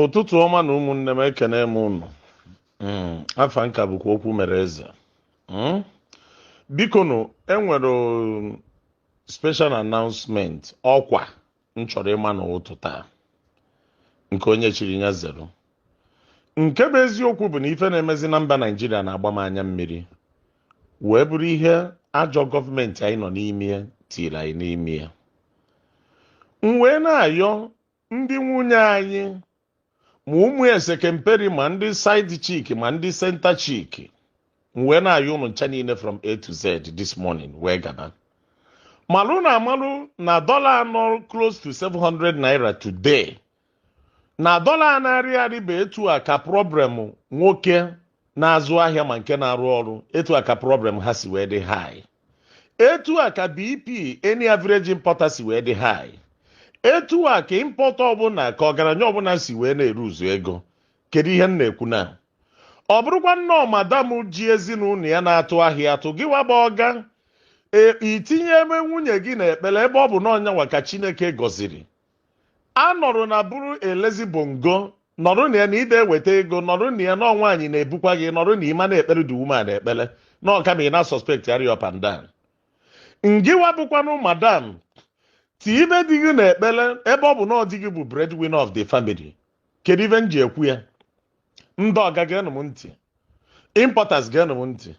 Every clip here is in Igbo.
ụtụtụ ọma nụ ụmụnne m ekene m ụnụ mm, afa m ka bụkwa okwu mere eze mm? biko nụ enwere special announcement ọkwa m chọrọ ịma n'ụtụtụ a nke onye chiri ya zere nke bụ eziokwu bụ na ife na-emezi na mba naijiria na-agba m anya mmiri wee bụrụ ihe ajọ gọọmenti anyị nọ n'ime tiri anyị n'ime m wee na-ayọ ndị nwunye anyị ma ụmụ esekemperi ma ndị side chick ma ndị center chick m wee na-ayọ ụnụ ncha niile from A to Z this morning wee gaba malụ na amalụ na dọla nọ close to 700 naira today na dọla na-arị arị bụ etu a ka problem nwoke na-azụ ahịa ma nke na-arụ ọrụ etu a ka problem ha si wee dị high etu a ka BP any average importer si wee dị high etu a ka importer ọbụla ka ọgaranya ọbụla si wee na-eluzu ego kedu ihe m na-ekwu na ọ bụrụkwanụ na ọ madam ji ezinụlọ ya na-atụ ahịa atụ gịwa bụ ọga ị tinyebe nwunye gị n'ekpere ebe ọ bụ na ọ nyanwa ka Chineke gọziri a nọrọ na bụrụ lazy bongo nọrọ na ya na ide eweta ego nọrọ na ya na nwaanyị na-ebukwa gị nọrọ na ị ma na-ekpere the woman ekpere na ọ ka mma ị na-suspectgharị up and down ngịwa bụkwanụ madam tibe di gị n'ekpere ebe ọ bụ na ọ di gị bụ breadwinner of the family kedu ife m ji ekwu ya ndị ọga geenụ m ntị importers geenụ m ntị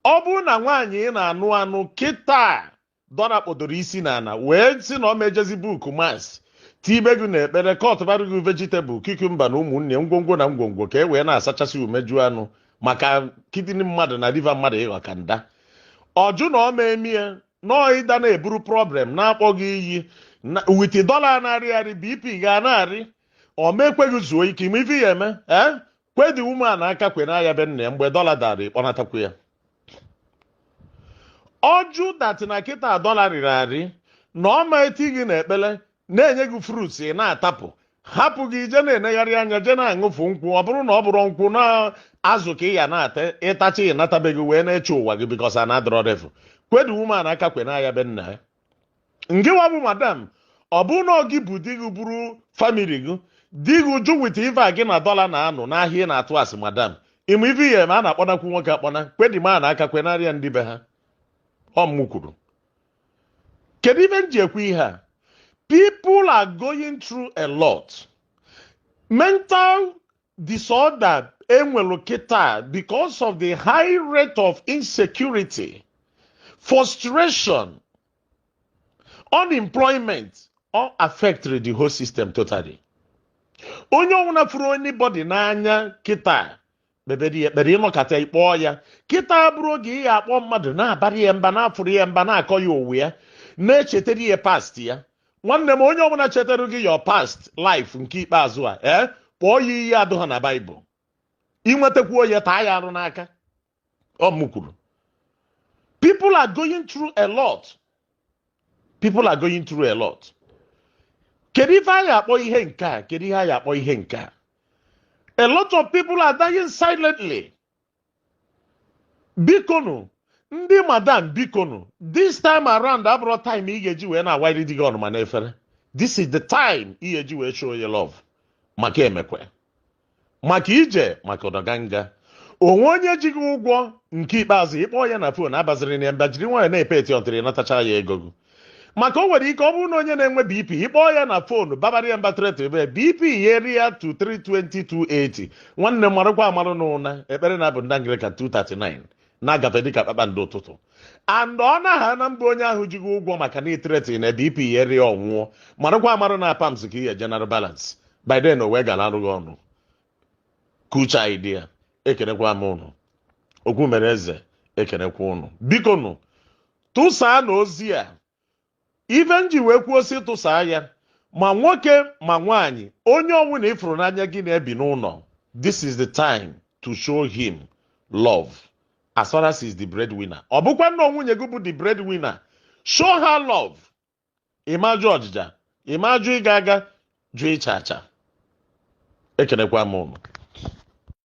ọ bụrụ na nwaanyị ị na-anụ anụ kịta dọla kpọdoro isi n'ala wee sị na ọ ma ejezi book mass tibe gị n'ekpere cutbara gị vegetable cucumber na ụmụnne ngwongwo na ngwongwo ka e wee na-asachasị umeju anụ maka kidney mmadụ na liver mmadụ ịghọ ka nda ọ jụ na ọ ma eme ya nọọ ịda na-eburu problem na-akpọ gị iyi with dọla na-arị arị bp gị na-arị ọ ma ekwe gị zuo ike ị ma ife ị ya-eme ee kwe the woman aka kwe na ya be nna ya mgbe dọla dara ị kpọnatakwu ya ọ jụ that na kịta dọla rịrị arị na ọ ma eti gị n'ekpere na-enye gị fruits ị na-atapụ hapụ gị je na-enegharị anya je na-aṅụfu nkwụ ọ bụrụ na ọ bụrụ nkwụ na azụ ka ị ya na-ata ị tachaa ị nata be gị wee na-eche ụwa gị because na dọla rịfu kwe the woman aka kwe na ya be nna ya ngịwa bụ madam ọ bụrụ na ọ gị bu di gị buru family gị di gị jụ with ife a gị na dọla na-anụ n'ahịa ị na-atụ a sị madam ị ma ife ị ya-eme a na-akpọnakwu nwoke akpọna kwe the man aka kwenarị ya ndị be ha ọ mụ kwuru kedu ife m ji ekwu ihe a people are going through a lot mental disorder enwelu kịta because of the high rate of insecurity frustration unemployment all affected the whole system totally onye ọbụla fụrụ anybody n'anya kịta kpebere ya ekpere ịnọkata ịkpọọ ya kịta abụrọ oge ị ga-akpọ mmadụ na-abara ya mba na-afụrụ ya mba na-akọ ya onwe ya na-echetara ya past ya nwanne m onye ọbụla chetara gị your past life nke ikpeazụ a ee kpọọ ya iyi adụ ha na baịbụl i nwetakwuo ya taa ya arụ n'aka ọ m kwuru people are going through a lot people are going through a lot kedu ife a ya-akpọ ihe nke a kedu ihe a ya-akpọ ihe nke a a lot of people are dying silently bikonu ndị madam bikonu this time around abụrọ time ị ga-eji wee na-awari di gị ọnụma n'efere this is the time ị ga-eji wee show your love maka emekwe maka ije maka ọdọganga o nwee onye ji gị ụgwọ nke ikpeazụ ị kpọọ ya na fon abazirina ya mba jiri nwayọ na-epeti until ị natacha ya ego gị maka o nwere ike ọ bụrụ na onye na-enwe bp ị kpọọ ya na fonu babara ya mba threatenba ya bp ya arịa to 320 280 nwanne marakwa amara na ụna ekpere na abụ ndị anglican 239 na-agafe dịka kpakpando ụtụtụ and ọ naghị na mba onye ahụ ji gị ụgwọ maka na i threaten ya bp ya arịa ọ nwụọ marakwa amara na pams ka ị ya-eje nara balance by then o wee gara arụ gị ọnụ kucha idea ekenekwa m ụnụ okwu mere eze ekenekwa ụnụ biko nụ tụsaa na ozi a ife m ji wee kwuo sị tụsaa ya ma nwoke ma nwaanyị onye ọbụna ị fụrụ n'anya gị na ya bi n'ụlọ this is the time to show him love as far as he is the breadwinner ọ bụkwanụ nwunye gị bụ the breadwinner show her love ịma ajụ ọjịja ịma ajụ ịga aga jụ ịcha acha ekenekwa m ụnụ